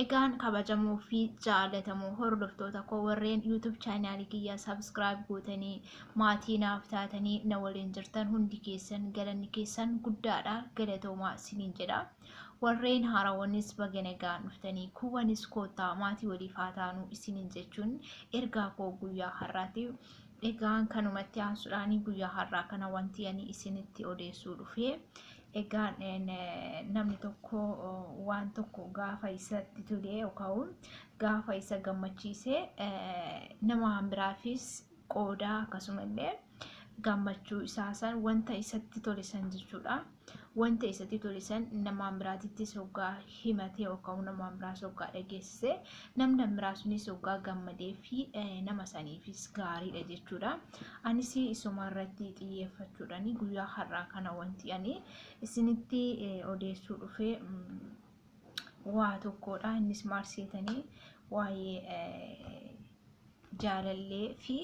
Egaan kabajamoo fi jaalatamoo hordoftoota koo warreen YouTube chaanaalii kiyya subscribe gootanii maatii naaf taatanii na waliin jirtan hundi keessan galanni keessan guddaadha galatoomaa siniin jedha. Warreen haarawanis baga nagaan dhuftanii kuuwwanis koottaa maatii waliif haa taanu isiniin jechuun ergaa koo guyyaa har'aati. Egaan kanumatti aansuudhaan guyyaa har'aa kana wanti ani isinitti odeessuu dhufee Egaan namni tokko waan tokko gaafa isatti tolee yookaan gaafa isa gammachiise nama biraafis qoodaa akkasumallee gammachuu isaa san wanta isatti tole san jechuudha. Wanta isatti tole san namaan biraatittis hoggaa himatee yookaan namaan biraas hoggaa dhageessise Namni kan biraa sunis oggaa gammadee fi nama saniifis gaariidha jechuudha. Anis isuma irratti xiyyeeffachuudhaan guyyaa har'aa kana wanti ani isinitti odeessuu dhufe waa tokkodha. Innis maal seetanii waa'ee jaalallee fi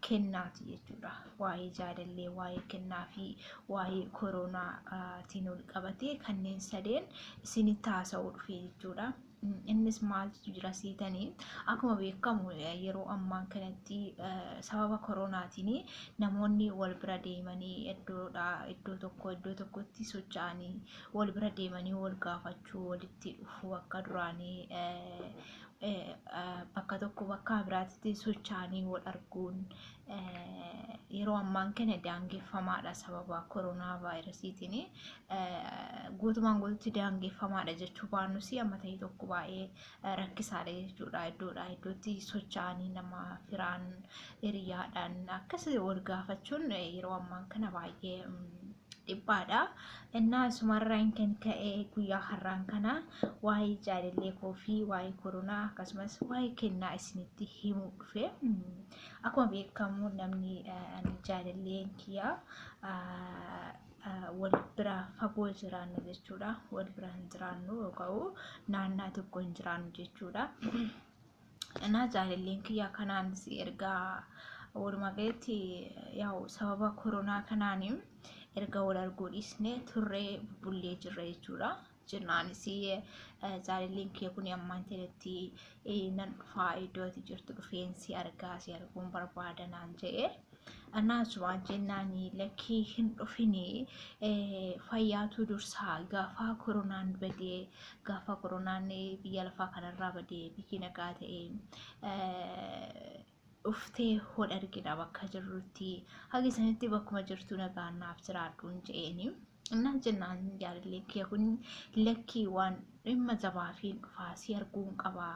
kennaati jechuudha. Waa'ee jaalallee, waa'ee kennaa fi waa'ee koronaatiin ol qabatee kanneen sadeen isinitti haasa'uu dhufe jechuudha. innis maaltu jira seetanii akkuma beekamu yeroo ammaan kanatti sababa koronaatiin namoonni wal bira deemanii iddoodha iddoo tokko iddoo tokkotti socho'anii wal bira deemanii wal gaafachuu walitti dhufuu akka duraanii bakka tokko bakka biraatti socho'anii wal arguun yeroo ammaan kana daangeffamaadha sababa koronaa vaayirasiitiin guutumaan guututti daangeffamaadha jechuu baannus amma ta'e tokko baay'ee rakkisaadha jechuudha iddoodha iddootti socho'anii nama firaan hiriyaadhaan akkas wal gaafachuun yeroo ammaan kana baay'ee dhiphaadha. Innaa asumarraan kan ka'e guyyaa har'aan kana waa'ee jaalallee koo fi waa'ee koronaa akkasumas waa'ee kennaa isinitti himuu dhufe. Akkuma beekamu namni jaalalleen kiyyaa wal bira fagoo jiraannu jechuudha. Wal bira hin jiraannu yookaan naannaa tokko hin jiraannu jechuudha. Anaa jaalalleen kiyyaa kanaanis ergaa walumaa galatti yaa'u sababa koronaa kanaan erga wal arguu dhiisnee turree bubbullee jirra jechuudha. jennaanis zaarii linkii kun ammaan jedhetti nan dhufaa iddoo ati jirtu dhufeen si argaa si arguun barbaada naan jedhe. Anaas waan jennaan lakkii hin dhufini fayyaatu dursaa gaafaa koronaan badee gaafaa koronaan biyya lafaa kanarraa badee biyyi nagaa ta'e dhuftee hod argina bakka jirrutti haga isanitti bakkuma jirtu nagaan naaf jiraadhuun je'eeni innaan jennaan jaalallee kiyya kun lakkii waan dhimma jabaafiin dhufaa si arguun qabaa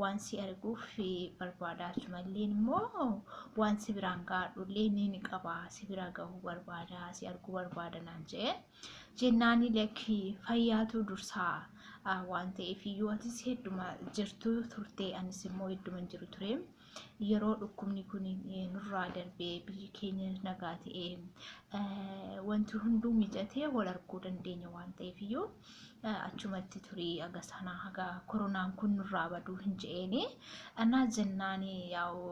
waan si arguuf barbaadaa achumalleen immoo waan si biraan gaadhullee ni ni qabaa si bira gahuu barbaadaa si arguu barbaada naan je'e jennaani lakki fayyaatu dursaa ah, waan ta'eef iyyuu atis hedduma jirtu turte anis immoo hedduman jiru ture yeroo dhukkubni kun eh, nurraa darbee biyyi keenya nagaa ta'e eh, wanti hunduu mijatee wal arguu dandeenya waan ta'eef iyyuu eh, achumatti turii haga sanaa haga koronaan kun nurraa baduu hin je'eeni anaa jennaani yaa'u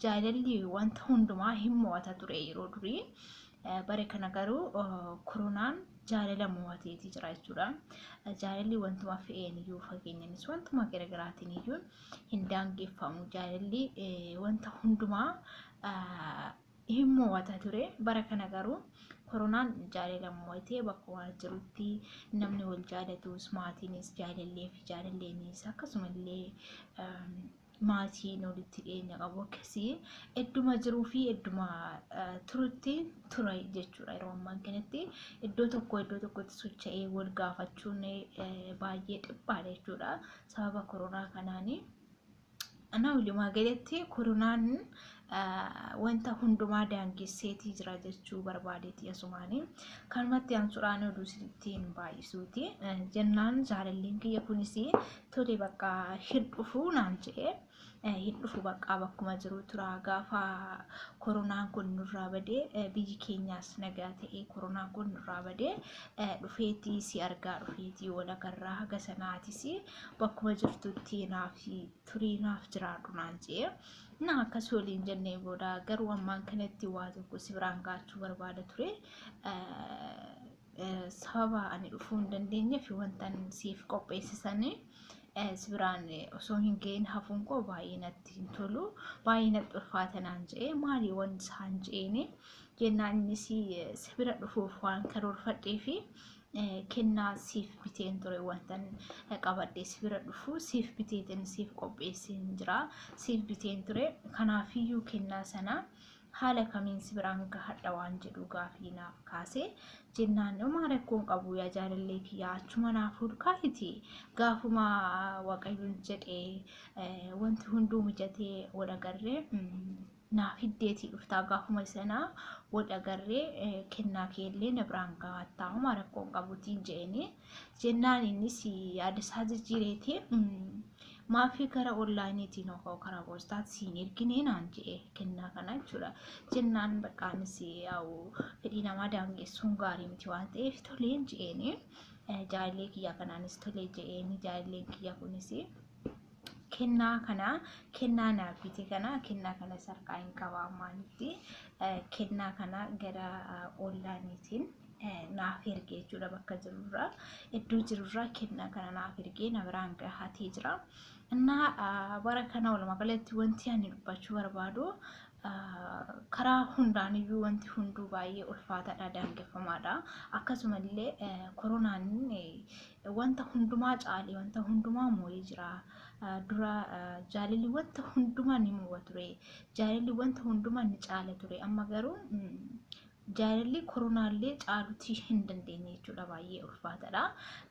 jaalalli wanta hundumaa hin mo'ata ture yeroo durii Bare kana garuu koronaan jaalala mo'ateeti jira jechuudha. Jaalalli wantuma fe'een iyyuu fakkeenyanis wantuma garaagaraatiin iyyuu hin daangeffamu. Jaalalli wanta hundumaa hin mo'ata ture. Bara kana garuu koronaan jaalala mo'atee bakkuma jirutti namni wal jaalatus maatiinis jaalallee fi jaalalleenis akkasumallee maatiin walitti dhiyeenya qabu akkasii idduma jiruu fi idduma turutti ture jechuudha yeroo ammaan kanatti iddoo tokko iddoo tokkotti socha'ee wal gaafachuun baay'ee dhiphaadha jechuudha sababa koronaa kanaanii. Ana walumaa galatti koronaan wanta hundumaa daangesseetii jira jechuu barbaadeeti asumaani kanumatti aansuudhaan oduu sittiin baay'isuuti jennaan jaalalleen kiyya kunis tole bakka hin dhufu naan jedhe hin dhufu bakka bakkuma jiru tura gaafa koronaan kun nurraa badee biyyi keenyaas nagaa ta'ee koronaan kun nurraa badee dhufeetii si argaa dhufeetii wal agarraa haga sanaatis bakkuma jirtutti naaf turii naaf jiraadhu naan jedhe na akkas waliin jennee booda garuu ammaan kanatti waa tokko si biraan gaachuu barbaada ture sababa ani dhufuu hin dandeenye fi wantan siif qopheessisanii si biraan osoo hin ga'in hafuun koo baay'ee natti hin tolu baay'ee natti ulfaata naan je'ee maalii waan isaan je'eenii jennaan innis si bira dhufuuf waan karoorfadhee fi kennaa siif biteen ture wantan qabadhee si bira dhufu siif biteetiin siif qopheesseen jira siif biteen ture kanaafiyyuu kennaa sana haala kamiin si biraan gahadha waan jedhu gaafii naaf kaase jennaan homaa rakkoon qabu yaa jaalallee kiyyaa achuma naaf hulkaahiti gaafuma waaqayyoon jedhee wanti hunduu mijatee wal agarree naa fiddeetii dhuftaa gaafuma sanaa wal agarree kennaa keellee na biraan gahaattaa homaa rakkoon qabutiin je'eenii jennaan innis yaada isaa jijjiireeti maafi gara onlaayiniitiin hoo karaa poostaatti siin erginee naan je'e kennaa kana jechuudha jennaan baqqaanis yaa'u fedhii namaa daangessuun gaarii miti waan ta'eef toleen je'eenii jaalallee kiyyaa kanaanis tolee je'eenii jaalalleen kiyya kunis kennaa kana kennaa naaf fite kana kennaa kana sarkaa hin qaba ammaanitti eh, kennaa kana gara eh, onlaayiniitiin eh, naaf ergee jechuudha bakka jirurraa iddoo jirurraa kennaa kana naaf ergee na biraan gahatee jira. Innaa ah, bara kana walumaa galatti wanti ani dubbachuu barbaadu ah, karaa hundaaniyyuu wanti hunduu baay'ee ulfaataadha daangeffamaadha akkasumallee eh, koronaan eh, wanta hundumaa caalee wanta hundumaa moo'ee jira. Dura jaalalli wanta hundumaa ni moo'a ture. Jaalalli wanta hundumaa ni caala ture. Amma garuu jaalalli koronaallee caalutii hin dandeenye jechuudha. Baay'ee ulfaataadha.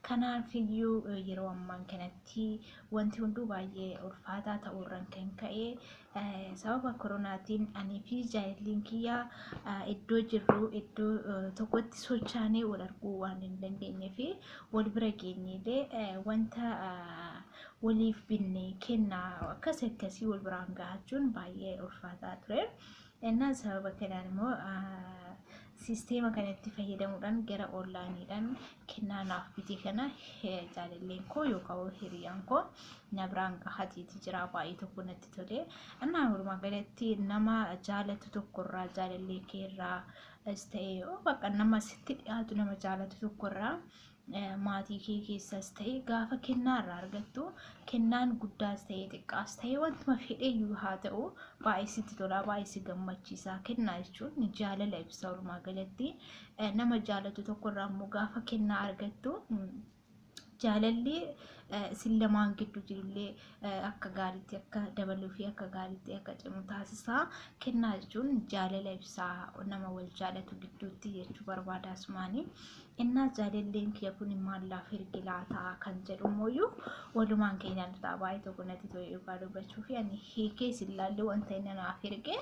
Kanaaf iyyuu yeroo ammaan kanatti wanti hunduu baay'ee ulfaataa ta'uurraan kan ka'e Sababa koronaatiin anii fi jaayilliin kiyya iddoo jirru iddoo tokkotti sochaanee wal arguu waan hin dandeenye fi wal bira geenyeelee wanta waliif binne kennaa akkas akkasii wal biraan gahachuun baay'ee ulfaataa ture. Innaan sababa kanaan immoo Sisteema kanatti fayyadamuudhaan gara onlaayiniidhaan kennaa naaf bitee kana jaalalleen koo yookaan hiriyaan koo na biraan gahateeti jira baay'ee tokko natti tole. Annaa walumaa galatti nama jaalatu tokkorraa jaalallee keerraa as ta'e bakka nama sitti dhiyaatu nama jaalatu tokkorraa maatii kee keessas ta'e gaafa kennaa irraa argattu kennaan guddaas ta'e xiqqaas ta'e wantuma fedheeyyuu haa ta'u baay'ee sitti tolaa baay'ee si gammachiisaa kennaa jechuun jaalala ibsa walumaa galatti nama jaalatu tokko irraa immoo gaafa kennaa argattu jaalalli isin lamaan gidduu jirullee akka gaariitti akka dabaluu fi akka gaariitti akka cimu taasisaa kennaa jechuun jaalala ibsaa nama wal jaalatu gidduutti jechuu barbaada asumaanii innaa jaalalleen kiyya kun maal laaf erge laataa kan jedhu immoo walumaan keenyaan ta'a baay'ee tokko natti to'e dhugaa dubbachuu fi ani hiikee isin ilaallee wanta inni naaf erge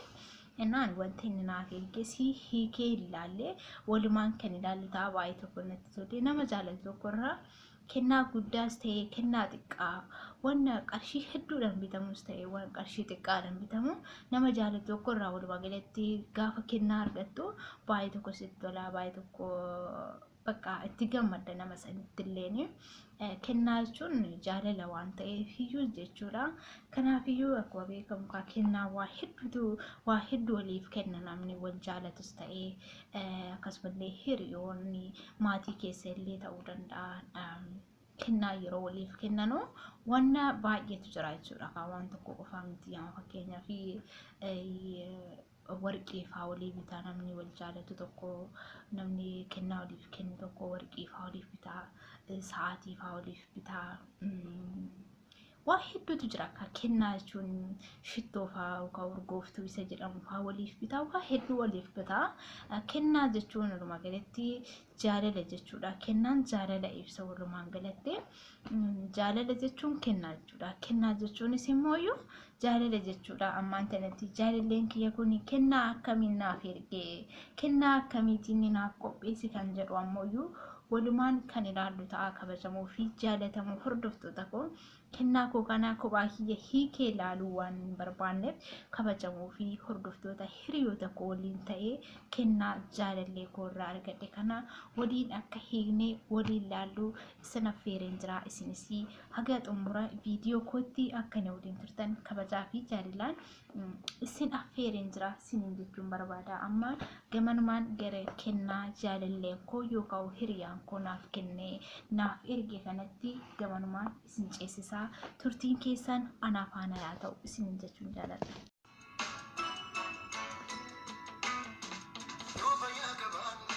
innaan wanta inni naaf erge si hiikee ilaallee walumaan kan ilaallu ta'a baay'ee tokko natti to'e nama jaalatu tokkorraa kennaa guddaas ta'e kennaa xiqqaa wanna qarshii hedduudhaan bitamus ta'e waan qarshii xiqqaadhaan bitamu nama jaalatu tokko irraa walumaa galatti gaafa kennaa argattu baay'ee tokko sitti tolaa baay'ee tokko bakka itti gammadda nama sanitti illeen kennaa jechuun jaalala waan ta'eef iyyuu jechuudha. Kanaaf iyyuu akkuma beekamu kaa kennaa waa hedduutu waa hedduu waliif kenna namni wal jaalatus ta'ee akkasumallee hiriyoonni maatii keessa illee ta'uu danda'a. Kennaa yeroo waliif kennanu wanna baay'eetu jira jechuudha. Kan waan tokko qofaa miti. Amma fakkeenyaaf warqii fa'aa walii bitaa namni wal jaalatu tokko namni kennaa waliif kennu tokko warqii fa'aa waliif bitaa sa'aatii fa'aa waliif bitaa. waa hedduutu jira akka kennaa jechuun shittoo faa yookaan urgooftuu isa jedhamu faa waliif bitaa waa hedduu waliif bitaa kennaa jechuun walumaa galatti jaalala jechuudha kennaan jaalala ibsa walumaan galatti jaalala jechuun kennaa jechuudha kennaa jechuunis immoo iyyuu jaalala jechuudha ammaan tanatti jaalalleen kiyya kun kennaa akkamiin naaf ergee kennaa akkamiitiin naaf qopheessi kan jedhu ammoo iyyuu walumaan kan ilaallu ta'a kabajamoo fi jaalatamoo hordoftoota koo kennaa koo kana kophaa kiyya hiikee ilaaluu waan hin barbaanneef kabajamoo fi hordoftoota hiriyoota koo waliin ta'ee kennaa jaalallee koo irraa argadhe kana waliin akka hiikne waliin ilaallu isin affeereen jira isinis haga xumura viidiyoo kootti akka na waliin turtan kabajaa fi jaalalaan isin affeereen jira sinin jechuun barbaada amma gamanumaan gara kennaa jaalalleen koo yookaan hiriyaan koo naaf kennee naaf erge kanatti gamanumaan isin ceesisaa turtiin keessaan anaa faana yaa ta'u isinin jechuun jaaladha. Yoo fayyaa qabaannee.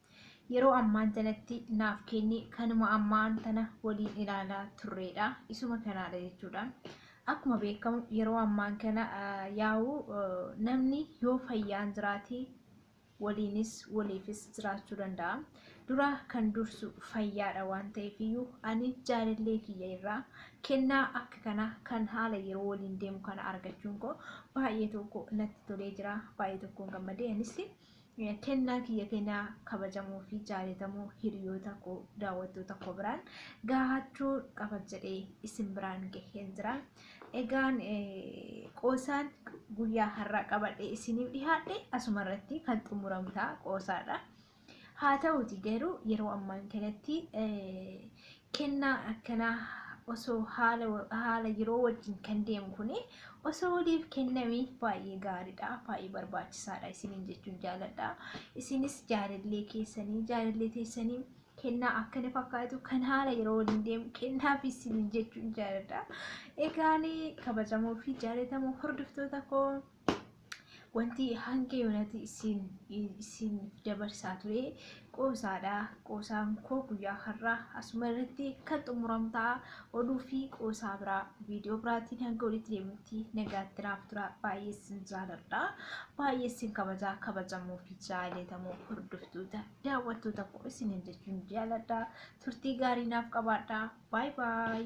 yeroo ammaan tanatti naaf kenni kanuma ammaan tana waliin ilaalaa turreedha isuma kanaadha jechuudha akkuma beekamu yeroo ammaan kana yaa'u namni yoo fayyaan jiraate waliinis waliifis jiraachuu danda'a dura kan dursu fayyaadha waan ta'eef iyyuu ani jaalallee kiyya irraa kennaa akka kana kan haala yeroo waliin deemu kana argachuun koo baay'ee tokko natti tolee jira baay'ee tokkoon gammadee anis Kennaa kiyya kenaa kabajamoo fi jaalatamoo hiriyoota koo daawwattoota koo biraan gaahachuu qaba jedhee isin biraan gaheen jira. Egaan qoosaan guyyaa har'aa qabadhee isiniif dhihaadhe asuma irratti kan xumuramu ta'a qoosaadha. Haa ta'uuti garuu yeroo ammaan kanatti Kennaan akkanaa osoo haala haala yeroo wajjin kan deemu kuni osoo waliif kenname baay'ee gaariidha baay'ee barbaachisaadha isiniin jechuun jaaladha isinis jaalallee keessanii jaalallee teessanii kennaa akkana fakkaatu kan haala yeroo waliin deemu kennaaf isiniin jechuun jaaladha egaanii kabajamoo fi jaalatamoo hordoftoota koo wanti hanga yoonati isin isin dabarsaa ture qoosaadha qoosaan koo guyyaa har'aa asuma irratti kan xumuramu ta'a oduu fi qoosaa biraa viidiyoo biraatiin hanga walitti deemutti nagaatti naaf tura baay'ee isin jaaladha baay'ee isin kabajaa kabajamoo fi jaallatamoo hordoftoota daawwattoota koo isinin jechuun jaaladha turtii gaarii naaf qabaadha baay baay